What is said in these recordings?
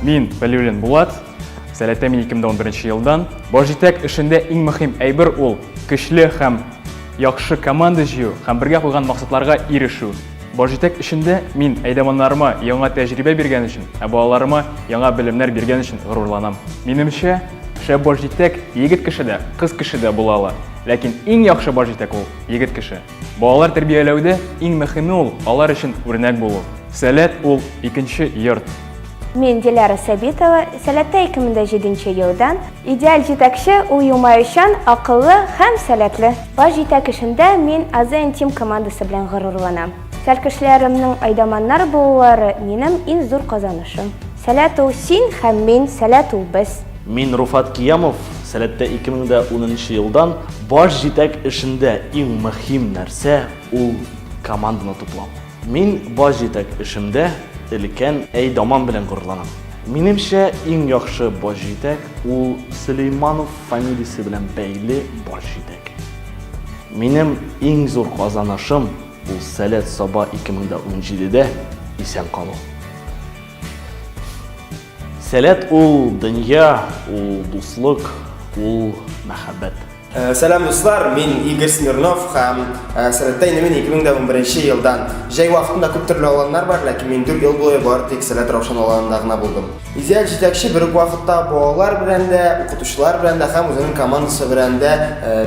Мин Валюлин Булат, Сәләтә мин 2011 елдан. Башҗитәк эшендә иң мөһим әйбер ул көчле һәм яхшы команда җыю һәм бергә куйган максатларга ирешү. Башҗитәк эшендә мин әйдәманнарыма яңа тәҗрибә биргән өчен, ә балаларыма яңа белемнәр биргән өчен горурланам. Минемчә, шәп башҗитәк егет кеше дә, кыз кеше дә була ала. Ләкин иң яхшы башҗитәк ул егет кеше. Балалар тәрбияләүдә иң мөхиме ул алар өчен үрнәк булу. Сәләт ул икенче йорт. Мин Диляра Сәбитова, Сәләттә 2007 нче елдан. Идеаль җитәкче ул елмаючан, акыллы һәм сәләтле. Баш җитәк эшендә мин АЗН Тим командасы белән горурланам. Сәлкешләремнең айдаманнар булулары минем иң зур казанышым. Сәләт ул син һәм мин, сәләт ул без. Мин Руфат Киямов, Сәләттә 2010 нчы елдан баш җитәк эшендә иң мөһим нәрсә ул команданы туплау. Мин баш җитәк эшемдә өлкән Әйдаман белән горурланам. Минемчә, иң яхшы баш җитәк ул Сөләйманов фамилиясе белән бәйле баш җитәк. Минем иң зур казанышым ул Сәләт-Саба 2017 дә исән калу. Сәләт ул дөнья, ул дуслык, ул мәхәббәт. Э, сәлам дуслар, мин Игорь Смирнов һәм э, сәләттә инде мин 2011 елдан. Җәй вакытында күп төрле аланнар бар, ләкин мин 4 ел буе бар тик сәләт раушан аланында гына булдым. Изял җитәкче бер үк вакытта балалар белән дә, укытучылар белән дә һәм үзенең командасы белән дә э,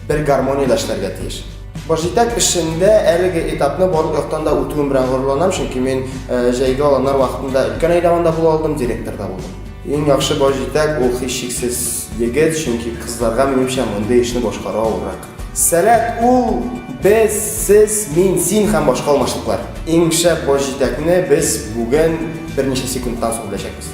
бер гармониядә эшләргә тиеш. Башҗитәк эшендә әлеге этапны барлык яктан да үтүем белән горурланам, чөнки мин җәйге аланнар вакытында өлкән әйдәванда була алдым, директор да булдым. Иң яхшы башҗитәк ул һичшиксез егет, чөнки кызларга минемчә мондый эшне башкару авыррак. Сәләт ул без, сез, мин, син һәм башка алмашлыклар. Иң шәп башҗитәкне без бүген берничә секундтан соң беләчәкбез.